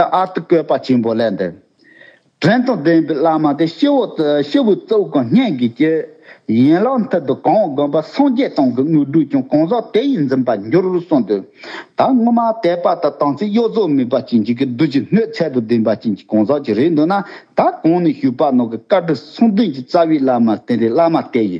ཨ་ཨཱ་ཏི་བཀོད་པ་ཆེན་པོ་ལས་འདིར། དྲན་དང་ལྡན་པའི་བླ་མ་དེ་ཤི་བོ་ཤི་བོའི་གཙོ་བོ་གང་སྙེད་ཀྱི་སྤྱི། ཡན་ལག་མཐིལ་དུ་གང་དགོན་པ་སངས་རྒྱས་སྟེང་གི་དངོས་གྲུབ་ཀྱང་གང་ཟག་དེ་ཡིས་འཛིན་པར་འགྱུར་གསུངས་དོན་དག་སྔོན་མ་དད་པ་དང་དྭངས་ཚིག་གཡོ་རྫོགས་མེད་པ་ཅན་གྱི་གི་བདུད་ཀྱི་སྣོད་ཚད་དུ་ལྡན་པ་ཅན་གྱི་གང་ཟག་ཅིག་རེད་འདོད་ན་ད་གོང་ནས་ཞུས་པ་ནང་གི་བཀའ་དྲིན་གསུང་འདོན་གྱི་རྩ་བའི་བླ་མ་དེ་འདྲའི་བླ་མ་དེ་ཡི་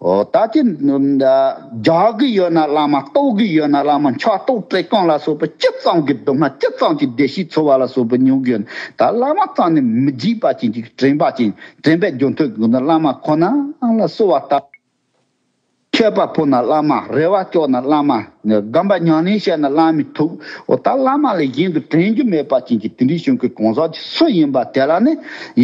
ད་ལྟའི་སྦྱར་གི་ཡོད་ན་བླ་མ་རྟོགས་གི་ཡོད་ན་བླ་མ་མཆོག་རྟོགས་བཀྲས་སྐོང་ལ་སོགས་པ་སྤྱི་གཙང་གི་སྡོམ་སྔགས་སྤྱི་གཙང་གི་བདེ་གཤེགས་འཚོལ་བ་ལ་སོགས་པ་ཉོན་གྱི་ཡོད་ད་བླ་མ་གཙང་ནས་མི་འཇིགས་པ་ཅན་གྱི་དྲན་པ་ཅན་དྲན་པའི་སྦྱོར་མཐུ་གང་དུ་བླ་མ་ཁོ་ན་ལ་གསོལ་བ་བཏབ། མཁས་པ་ཕོ་ན་བླ་མ་རེ་བ་ལྕོག་ན་བླ་མ། སྒམ་པ་མྱང་ནས་བཤད་ན་བླ་མི་ཐུག། འོ་ད་བླ་མ་ལས་གཞན་དུ་དྲན་རྒྱུ་མེད་པ་ཅན་གྱི་དེ་འདྲའི་གཞུང་གི་གང་ཟག་ཅིག་སུ་ཡིན་པ་དེ་ལ་ནི་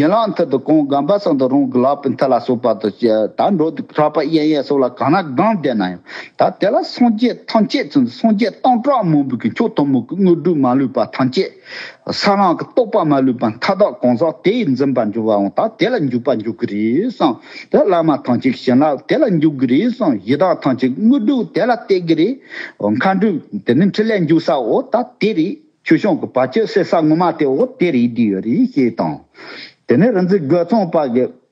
ཡན་ལག་མཐིལ་དུ་གང་སྒམ་པ་སོགས་འདུག་རང་གི་ལག་པའི་མཐིལ་ལ་སོགས་པ་དང་བཅས་ད་འགྲོ་འདུག་གྲགས་པ་གཡས་གཡོན་སོགས་ལ་གང་ན་སྒང་བསྡད་ན་ཡང་ད་དེ་ལ་སངས་རྒྱས་ཐམས་ཅད་ཚུལ་འདི་སངས་རྒྱས་སྟོང་ཕྲག་མང་པོ་གི་མཆོག་དུ་མ་གི་དངོས་གྲུབ་མ་ལུས་པ་ཐམས་ཅད། ས་རང་གི་རྟོག་པ་མ་ལུས་པ་མཐའ་དག་གང་ཟག་དེ་ཡིས་འཛིན་པར་འགྱུར་བའང་དག་དེ་ལ་འཇུག་པར་འགྱུར་གྱི་རེད་བསམ། དེ་བླ་མ་ཐང་ཅིག་བྱིན་རླབས་དེ་ལ་འཇུག་གི་རེད་བསམ་ཡི་དྭགས་ཐང་ཅིག་དངོས་གྲུབ་དེ་ལ་གཏད་ཀྱི་རེད། མཁའ་འགྲོས་དེ་ནི་འཕྲིན་ལས་འཇུག་སའོ་ད་དེ་རེད་ཆོས་སྐྱོང་གི་བར་ཆད་སེལ་ས་ངོ་མ་དེའོ་དེ་རེད་དེ་ཡོད་རེད་ཞེས་དང། དེ་ནས་རིག་འཛིན་རྒོད་ཚང་པ་གི་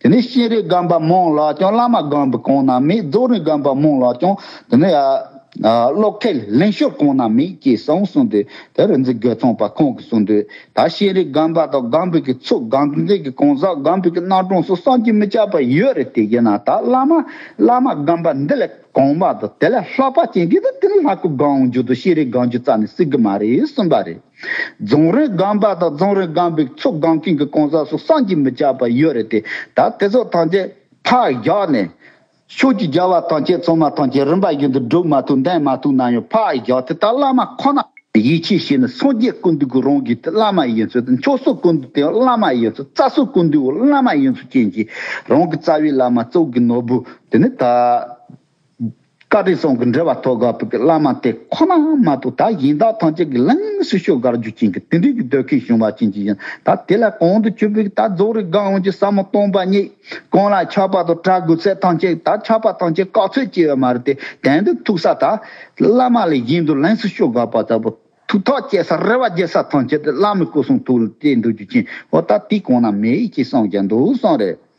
དེ་ནས་སྤྱན་རས་སྒམ་པ་མོང་ལ་ཀྱང་བླ་མ་སྒམ་པོ་གང་ན་མེད་རྫོགས་རིམ་སྒམ་པ་མོང་ལ་ཀྱང་དེ་ནས་ཀློག་ཁལ་ལེན་ཤོར་གང་ན་མེད་ཅེས་གསང་བ་གསུངས་ཏེ་དེར་རིག་འཛིན་སྒེར་ཚང་པ་ཁོང་གིས་གསུངས་དོན་ད་སྤྱན་རས་སྒམ་པ་དང་སྒམ་པོ་གི་ཚོགས་སྒམ་འཛིན་གྱི་གང་ཟག་སྒམ་པོ་གི་སྣ་དྲོངས་སུ་སངས་ཀྱིས་མི་ཁྱབ་པ་ཡོད་རེད་དེ་ཡིན་ན་ད་བླ་མ་བླ་མ་སྒམ་པ་འདི་ལས་གང་བ་དང་དེ་ལས་ལྷག་པ་ཅན་གྱིས་དེ་ལ་ལྷ་སྐུ་སྒང་འཇུག་དང་སྤྱན་རས་སྒང་འཇུག་རྩ་ནས་སྲིད་གི་མ་རེད་གསུངས་པ་རེད། རྫོང་རིམ་སྒང་པ་དང་རྫོང་རིམ་སྒང་པའི་ཚོ་སྒང་སྟེང་གི་གང་ཟག་སོགས་སངས་ཀྱིས་མི་བྱ་བ་ཡོད་རེད་དེ། ད་དེ་ཚོ་ཐམས་ཅད་ཕར་བཞག་ནས། ཆོས་ཀྱི་རྒྱལ་བ་ཐམས་ཅད་ཚང་མ་ཐམས་ཅད་རིམ་པ་བཞིན་དུ་སྒྲུབ་མ་ཐུབ་འདེང་མ་ཐུབ་ན་ཡང་ཕར་བཞག་དེ་ལྟར་བླ་མ་ཁོ་ན་ཡིད་ཆེས་བྱས་ནས་སངས་རྒྱས་ཀུན་འདུས་ཀྱི་རང་གི་བླ་མ་ཡིན་ཚུལ་དང་མཆོག་སྲུང་ཀུན་འདུས་དེའང་བླ་མ་ཡིན་ཚུལ་རྩ་སྲུང་ཀུན་འདུས་བླ་མ་ཡིན་ཚུལ་བྱིན་གྱིས་རང་གི་རྩ་བའི་བླ་མ་གཙོ་བོ་གྱི་ནོར་བུ་དེ་ནི་ད། བཀའ་ཁྲི་སོགས་ཀྱི་འབྲེལ་བ་ཐོག་དགའ་བོ་གྱི་བླ་མ་དེ་ཁོ་ན་མ་གཏོགས་ད་ཡིན་བདག་ཐམས་ཅད་ཀྱི་ལིངས་སུ་ཤོག་གར་རྒྱུ་ཅན་གྱི་དེ་འདྲིའི་གྱི་སྡོད་ཁའི་གཞུང་བ་ཅན་གྱི་ཡིན་ད་དེ་ལ་གང་དུ་ཆུད་པའི་ད་རྫོགས་རིགས་དགའ་བོ་གྱི་ཟབ་མོ་སྟོང་པ་ཉིད་གང་ལ་ཆགས་པ་དང་གྲགས་དགོས་ཚད་ཐམས་ཅད་ད་ཆགས་པ་ཐམས་ཅད་བཀག་ཚོད་བཅད་བ་མ་རེད་དེ་དེང་དུ་ཐུག་ས་ད་བླ་མ་ལས་གཞན་དུ་ལིངས་སུ་ཤོག་གར་བ་ལྟ་བུ་ཐུག་ཐག་བཅད་ས་རེ་བ་བརྒྱད་ས་ཐམས་ཅད་དེ་བླ་མའི་སྐུ་གསུང་ཐུགས་ལ་གཏད་འདོད་རྒྱུ་ཅན་འོ་ད་དེ་གང་ན་མེད་ཅེས་སངས་རྒྱས་འདུག་སངས་རེད།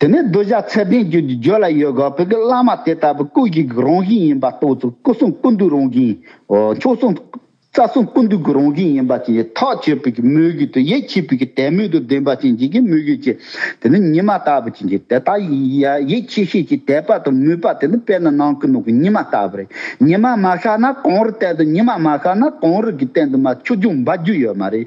དེ་ནས་གདུལ་བྱ་ཚད་ལྡན་རྒྱུད་ཀྱི་རྒྱུད་ལ་ཡོད་དགོས་པའི་བླ་མ་དེ་ལྟ་བུ་སྐུ་བཞི་གི་རང་བཞིན་ཡིན་པ་རྟོགས་ཚུལ་སྐུ་གསུམ་སྐུ་མདོའི་རང་བཞིན། མཆོག་གསུམ། རྩ་གསུམ་སྐུ་མདོའི་གུ་རང་བཞིན་ཡིན་པ་བཞིན་ཡིད་ཐག་ཆོད་པོས་ཀྱི་མོས་གུས་དང་ཡིད་ཆེས་པོས་ཀྱི་དད་མོས་དང་ལྡན་པ་བྱིན་ཅན་གྱི་མོས་གུས་ཀྱི། དེ་ནི་ཉི་མ་ལྟ་བུ་བྱིན་ཅན་དེ་དག་ཡི་ཡིད་ཆེས་ཤེས་ཀྱི་དད་པ་དང་མོས་པ་དེ་ནི་དཔེར་ན་ནང་གི་ནོར་བུ་ཉི་མ་ལྟ་བུ་རེད་ཉི་མ་མ་ཤར་ན་གངས་རི་བསྟན་དུ་ཉི་མ་མ་ཤར་ན་གངས་རི་གི་སྟེང་དུ་མ་ཆུ་རྒྱུན་འབབ་རྒྱུ་ཡོད་མ་རེད།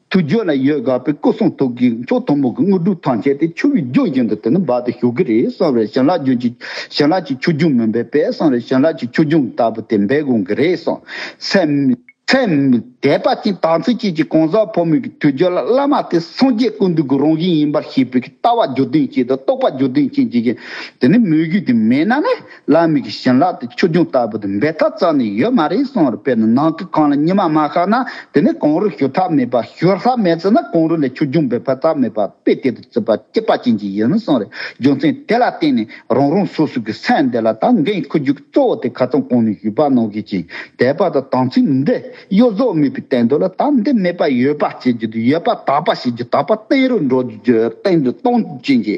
དུ་རྒྱུ་ལ་ཡོད་དགའ་བའི་སྐུ་གསུང་ཐུགས་ཀྱི་མཆོག་དུམ་བུ་གྱི་དངོས་གྲུབ་ཐང་ཆད་དེ་ཆུ་བོའི་རྒྱུན་བཞིན་དུ་དེ་ནི་འབར་ཏེ་ཞུགས་ཀྱི་རེད་གསང་བའི་བྱིན་རླབས་རྒྱུན་གྱི་བྱིན་རླབས་ཀྱི་ཆུ་རྒྱུན་མིན་པས་དཔལ་གསང་བའི་བྱིན་རླབས་ཀྱི་ཆུ་རྒྱུན་ལྟ་བུ་དེ་འབད་དགོས་ཀྱི་རེད་གསུངས། ཚེ་འདས་པ་ཅན་དང་ཚེ་སྐྱིད་ཀྱིས་གང་ཟག་ཕོ་མོ་ཀྱི་དུས་རྒྱུན་ལ་བླ་མ་དེ་སངས་རྒྱས་ཀུན་འདུས་ཀྱི་རང་བཞིན་ཡིན་པར་ཤེས་པའི་ལྟ་བ་རྒྱུ་མཐུན་ཅན་དང་རྟོགས་པ་རྒྱུ་མཐུན་ཅན་བྱེད་ཀྱི་ཡོད། དེ་ནི་མོས་གུས་དེ་མེད་ན་ནི་བླ་མེད་ཀྱི་བྱིན་རླབས་དེ་ཆོས་འབྱུང་ལྟ་བུ་དེ་འབད་ཐབས་རྩ་ནས་ཡོད་མ་རེད་གསུངས་བར་དཔེར་ན་ནང་གི་ཁང་ལ་ཉི་མ་མ་ཤར་ན་དེ་ནི་གང་རུང་ཞོར་ཐབས་མེད་པ་ཞོར་ལྷག་མེད་ཚེ་ན་གང་རུང་ལས་ཆོས་འབྱུང་འབད་ཕར་ཐབས་མེད་པ་དཔེ་དེ་ལྟར་བརྩི་བར་སྐྱེད་པ་ཅན་གྱི་ཡིན་གསུངས་རེ་རྒྱུ་མཚན་དེ་ལ་བརྟེན་ནས་རང་རང་སོ་སོ་གི་སེམས་འདི་ལ་ད་འགན་འཁུར་རྒྱུ་གཙོ་བོ་དེ་ཁ་ཚོན་གང་ནས་ཞུས་པ་གནང་ཤེས་ཅིང་དད་པ་དང་དམ་ཚིག་འདི་གཡོ་ཟོག་མེད་པའི་བསྟན་དོན་ལ་དམ་འདི་མེད་པ་ཡོད་པ་བྱེད་རྒྱུ་དང་ཡོད་པ་དག་པ་བྱེད་རྒྱུ་དག་པ་བསྟན་རུང་འགྲོ་རྒྱུར་བསྟན་དོན་སྟོང་ཅན་གྱི།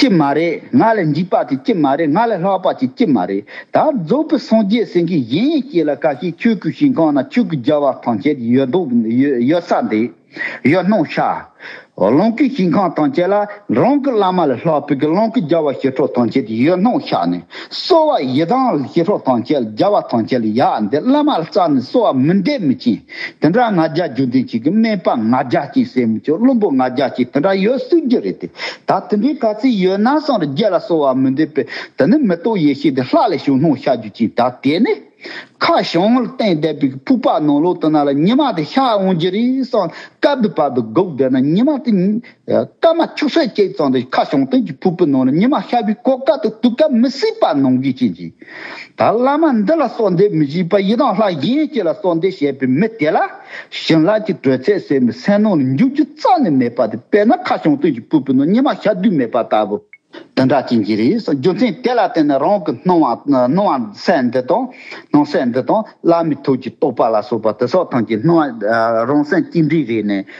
ཀྱི་མ་རེད་ང་ལས་འཇིགས་པ་དེ་ཀྱི་མ་རེད་ང་ལས་ལྷག་པ་དེ་ཀྱི་མ་རེད་ད་རྫོགས་པའི་སངས་རྒྱས་སེང་གེ་གཞན་ཡང་ཁྱེད་ལ་ཀ་ཤེད་ཁྱོད་སྐུ་ཞིང་གང་ན་ཁྱོད་ཀྱི་རྒྱལ་བ་ཐང་ཆད་ཡོད་མདོག་ཡོད་ས་འདི་ཡོད་སྣང་ཤ་རླུང་གི་ཞིང་ཁང་ཐང་ཆད་ལ་རང་གི་བླ་མ་ལས་ལྷག་བོད་ཀྱི་གླང་གི་རྒྱལ་བ་ཞི་ཁྲོ་ཐང་ཆད་ཡོད་སྣང་ཤ་ནི་གསོལ་བ་ཡི་དྭངས་ལ་ཞི་ཁྲོ་ཐང་ཆད་རྒྱལ་བ་ཐང་ཆད་ལ་ཡག་འདི་བླ་མ་ལ་རྩ་ནས་གསོལ་བ་མི་འདེབས་མི་བྱིན། དེ་འདྲ་ང་རྒྱལ་རྒྱུ་འཛིན་བྱེད་ཀྱི་སྨན་པ་ང་རྒྱལ་གཅིག་སྲས་མི་ཆོས་བླུན་པོ་ང་རྒྱལ་གཅིག་དེ་འདྲ་ཡོད་སྲིད་རྒྱུ་རེད་དེ། ད་དེ་འདྲའི་ག་ཚིག་ཡོད་ན་སངས་རྒྱས་ལ་གསོལ་བ་མི་འདེབས་པས་དེ་ནི་མི་རྟོག་ཡེ་ཤེས་དེ་ལྷག་ལས་ཞུགས་སྣང་ཤར་རྒྱུ་གཅིག་ད་དེ་ནི། ཁ་བྱང་ངོར་བསྟན་བསྡད་པའི་ཕུག་པ་ནང་ལོག་དུ་ན་ལ་ཉི་མ་དེ་ཤར་འོང་རྒྱུ་རེད་སངས་སྐལ་བུ་བབས་པའི་སྒུག་བསྡད་ན་ཉི་མ་དེ། སྐར་མ་བཅུ་ཕྲག་བརྒྱད་ཙམ་རེ་ཁ་བྱང་སྟེང་གི་ཕུར་བུ་ནང་ལ་ཉི་མ་ཤར་བའི་སྐོར་དཀའ་དང་དུག་དཀའ་མི་སྲིད་པ་ནང་གི་རྐྱེན་གྱིས། ད་བླ་མ་འདི་ལ་སོགས་འདས་མི་བཞིས་པ་ཡི་དྭགས་ལྷ་གཞན་གྱི་ལ་སོགས་འདས་བྱས་པའི་མི་དེ་ལ། བྱིན་རླབས་ཀྱི་དྲོད་ཚད་སེལ་མི་སེལ་ནང་ལ་འཇུག་རྒྱུ་རྩ་ནས་མེད་པ་དེ་དཔེར་ན་ཁ་བྱང་སྟེང་གི་ཕུར་བུ་ནང་ཉི་མ་ཤར་དུས་མེད་པ་ལྟ་བུ། དེ་འདྲ་བྱེད་ཀྱི་རེད་རྒྱུ་མཚན་དེ་ལ་བརྟེན་ནས་རང་གི་སྣང་བ་སྣང་བ་གསལ་འདི་དང་སྣང་གསལ་འདི་དང་བླ་མའི་ཐུགས་ཀྱི་རྟོགས་པ་ལ་སོགས་པ་དེ་སོགས་ཐམས་ཅད་སྣང་བ་རང་གསལ་གཅིག་འདྲིས་རེད་ནས།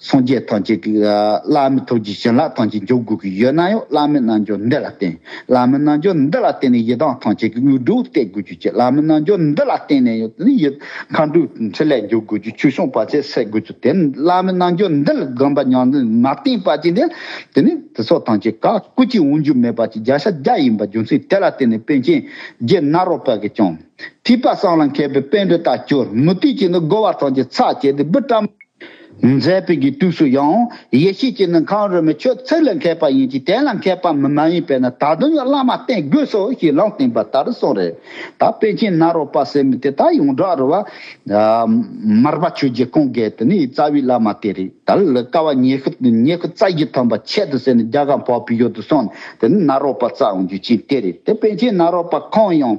སངས་རྒྱས་ཐམས་ཅད་ཀྱིས་བླ་མེད་ཐུགས་རྗེའི་བྱིན་རླབས་ཐམས་ཅད་འཇོག་དགོས་ཀྱི་ཡོད་ན་ཡང་བླ་མེད་རྣལ་འབྱོར་འདི་ལ་བརྟེན། བླ་མེད་རྣལ་འབྱོར་འདི་ལ་བརྟེན་ནས་ཡི་དྭགས་ཐམས་ཅད་ཀྱི་དངོས་གྲུབ་སྟེར་དགོས་རྒྱུ་བྱས། བླ་མེད་རྣལ་འབྱོར་འདི་ལ་བརྟེན་ནས་ཡང་དེ་ཡི་མཁའ་འགྲོའི་ཕྲིན་ལས་འཇོག་དགོས་རྒྱུ་ཆོས་སྐྱོང་བར་ཆད་སེལ་དགོས་རྒྱུ་དེ་ནི་བླ་མེད་རྣལ་འབྱོར་འདི་ལ་བསྒོམ་པ་ཉམས་ལེན་མ་བརྟེན་པ་ཅན་དེ་དེ་ནི་དེ་སོགས་ཐམས་ཅད་བཀའ་བཀོད་ཀྱི་དབང་བསྒྱུར་མེད་པ་ཅིག་བརྒྱ་ཆ་བརྒྱ་ཡིན་པ་རྒྱུ་མཚན་དེ་ལ་བརྟེན་ནས་དཔོན་ཆེན་རྗེ་ནཱ་རོ་པ་གིས་ཀྱང། ཐིགས་པ་སྲང་ལ་མཁས་པའི་དཔོན་པོ་དག་བྱོལ་མུ་ཏིག་གིས་ནི་བསྒོ་བ་ཐམས་ཅད་ཚར་བཅད་དེ་བུ་བཀྲ། མཛད་དཔེ་ཀྱི་དུས་སུ་ཡང་ཡེ་ཤེས་ཀྱི་ནི་གང་རུང་བའི་ཆོས་ཚིག་ལ་མཁས་པ་ཡིན་གྱི་དེ་ལ་མཁས་པ་མི་མ་ཡིན་པས་ན་ད་དུང་ཡང་བླ་མ་བསྟེན་དགོས་སོ་ཞེས་ལམ་བསྟན་པ་ལྟར་གསུངས། རེ་ད་པཎ་ཆེན་ནཱ་རོ་པ་སེར་མོ་དེ་དག་ཡོངས་གྲགས་རུ་བ། མར་པ་ཆོས་རྗེ་ཀོང་རྒྱལ་དེ་ནི་རྩ་བའི་བླ་མ་དེ་རེད་ད་ལི་ཀ་བ་ཉེ་ཤུ་ཉེ་ཤུ་རྩ་བཞི་ཐམ་པ་ཆད་དུ་བསད་ནས་རྒྱ་གར་འཕགས་པའི་ཡུལ་དུ་སོང་ནས་དེ་ནི་ནཱ་རོ་པ་རྩ་དབང་རྒྱུད་ཆེན་དེ་རེད་དེ་པཎ་ཆེན་ནཱ་རོ་པ་ཁོང་ཡང།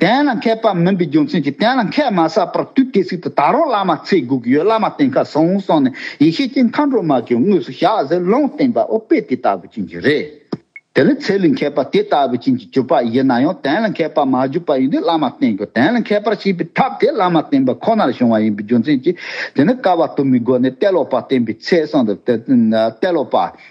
གཏན་ལ་འཁེལ་པ་མིན་པའི་རྒྱུ་མཚན་གྱིས་གཏན་ལ་འཁེལ་མ་ས་པར་དུས་སྐད་ཚིག་ཏུ་ད་རུང་བླ་མ་ཚེ་སྒུག་ཡོད་བླ་མ་བསྟེན་ཁ་སོང་གསུངས་ནས་ཡེ་ཤེས་ཀྱི་མཁའ་འགྲོ་མ་བཅོས་དངོས་སུ་བཞག་ཟེར་ལུང་བསྟན་པ་ཨོ་དཔེ་དེ་ལྟ་བུ་ཅན་གྱི་རེད། དེ་ལས་ཚེ་ལས་འཁེལ་པ་དེ་ལྟ་བུ་ཅན་གྱི་གྱུར་པ་ཡིན་ན་ཡང་གཏན་ལ་འཁེལ་པར་མ་གྱུར་པ་ཡིན་དུས་བླ་མ་བསྟེན་དགོས་གཏན་ལ་འཁེལ་པར་བྱེད་པའི་ཐབས་དེ་བླ་མ་བསྟེན་པ་ཁོ་ནར་བྱུང་བ་ཡིན་པའི་རྒྱུ་མཚན་གྱིས་དེ་ནི་སྐལ་བ་དུ་མའི་སྒོ་ནས་གཏད་ལོག་པར་བསྟེན་པའི་ཚེ་གསང་དུ་གཏད་ལོག་པ།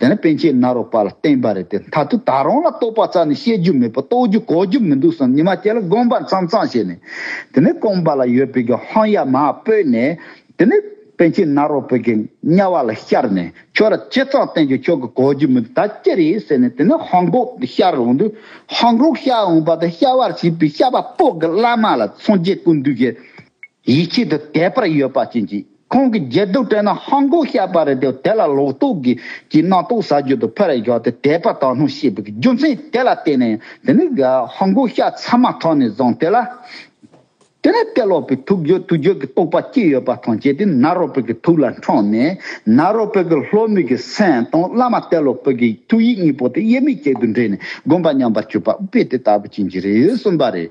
དེ་ནི་པན་ཆེན་ནཱ་རོ་པ་ལ་བསྟན་པ་རེད་དེ་མཐར་ཐུག་ད་རུང་ལ་རྟོག་པ་རྩ་ནས་བཤད་རྒྱུ་མེད་པར་རྟོག་རྒྱུ་གོ་རྒྱུ་མི་འདུག་བསམ་ཉི་མ་ཁྱེད་ལ་དགོངས་པ་མཚང་མཚང་བྱས་ནས་དེ་ནི་རྐང་པ་ལ་ཡོད་པའི་གི་ཧོང་ཡ་མ་སྤོས་ནས་དེ་ནི་པན་ཆེན་ནཱ་རོ་པའི་གི་གཉའ་བ་ལ་ཤར་ནས་ཁྱོད་ལ་ཅི་ཙང་བསྟན་ཀྱང་ཁྱོད་ཀྱི་གོ་རྒྱུ་མི་འདུག་ད་ཅི་རེད་ཟེར་ནས་དེ་ནི་ཧོང་ཀོག་ཏུ་ཤར་འོང་དུས་ཧོང་ཀོག་ཤར་འོང་པ་དང་ཤར་བར་བྱས་པའི་ཤར་བ་པོག་གི་བླ་མ་ལ་ཚོང་རྒྱལ་ཀུན་འདུས་ཀྱིས། ཡིད་ཆེས་དེ་དད་པར་ཡོད་པ་བྱིན་གྱིས་ཁོང་གི་མཇལ་དུ་བྲོས་ན་ཧང་གོ་ཤ་པ་རེད་དེ་དེ་ལ་ལོག་རྟོག་གིས་ཀྱི་སྣ་ཏོག་ཟ་རྒྱུ་དུ་ཕར་བཞག་སྟེ་དད་པ་དག་སྣང་ཤེས་པའི་རྒྱུ་མཚན་དེ་ལ་བརྟེན་ནས་དེ་ནི་ཧང་གོ་ཤ་ཚ་མ་ཐོག་ནས་བཟང་སྟེ་ལ་དེ་ནས་དད་ལོག་པའི་ཐུགས་རྗོད་ཐུགས་རྗོད་ཀྱི་རྟོག་པ་སྐྱེས་ཡོད་པ་དང་བཅས་ཏེ་ནཱ་རོ་པོད་ཀྱི་ཐུགས་ལ་འཕྲོག་ནས་ནཱ་རོ་པོད་ཀྱི་ལྷོ་མོས་ཀྱི་སེམས་དང་བླ་མ་དད་ལོག་པོད་ཀྱི་ཐུགས་ཡིད་གཉིས་པོ་དེ་དབྱེར་མེད་ཅིག་ཏུ་འདྲེས་ནས་སྒོམ་པ་ཉམས་པར་གྱུར་པ་དཔེ་དེ་ལྟ་བུ་བྱིན་གྱིས་རེ་གསུངས་པ་རེད།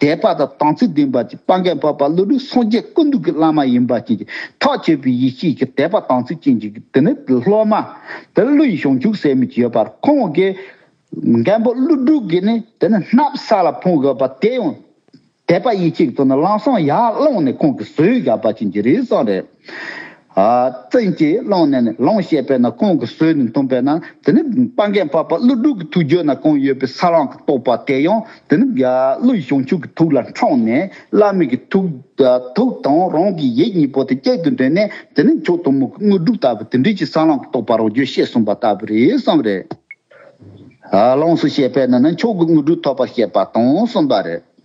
དད་པ་དང་དང་ཚིག་ལྡན་པ་ཅིག་སྤང་གན་པ་བ་ལུ་ལུ་སངས་རྒྱས་ཀུན་འདུས་ཀྱི་བླ་མ་ཡིན་པ་བཅས་ཀྱི་ཐག་གཅོད་པའི་ཡེ་ཤེས་ཀྱི་དད་པ་དང་ཚིག་ཅན་གྱི་དེ་ནི་སློབ་མ་དེར་ཀླུ་ཡི་གཞུང་བཅུག་ཟེར་མི་བགྱི་ཡོད་པར་ཁོང་གིས། མགན་པོ་ཀླུ་སྒྲུབ་ཀྱིས་ནི་དེ་ནི་སྣབས་བསགས་ལ་ཕུང་དགོས་པ་དེ་ཡང། དད་པ་ཡེ་ཤེས་ཀྱི་དོན་ནི་གླང་སྲང་ཡར་བླངས་ནས་ཁོང་གིས་ཟོས་བཞག་པ་བྱིན་གྱིས་རེ་བསགས་རེད། བཙན་གྱིས་བླངས་ནས་ནི་ལོངས་ཤེས་པས་ན་ཁོང་གི་ཟོས་ནི་འཐུངས་པས་ན་དེ་ནི་སྤང་རྒན་པགས་པ་ཀླུ་སྦྲུལ་གྱི་ཐུགས་འགྱོད་ན་གང་ཡོད་པའི་ས་རང་གི་རྟོག་པ་དེ་ཡང་དེ་ནི་ཀླུ་ཡི་བྱང་ཆུབ་ཀྱི་ཐུགས་ལ་འཕྲོག་ནས་བླ་མེད་ཀྱི་ཐུགས་དང་རང་གི་ཡིད་གཉིས་པོ་དེ་སྐྱེད་དུ་འདྲེན་ནས་དེ་ནི་མཆོག་གཏུམ་མོ་གི་དངོས་གྲུབ་ལྟ་བུ་དེ་འདྲིས་ཀྱི་ས་རང་གི་རྟོག་པ་རང་རྒྱུད་ཤེས་གསུངས་པ་ལྟ་བུ་རེད་བསམ་རེད། ལོངས་སུ་སྤྱད་པས་ན་ནི་མཆོག་གི་དངོས་གྲུབ་ཐོབ་པར་བཤད་པ་དང་གསུམ་པ་རེད།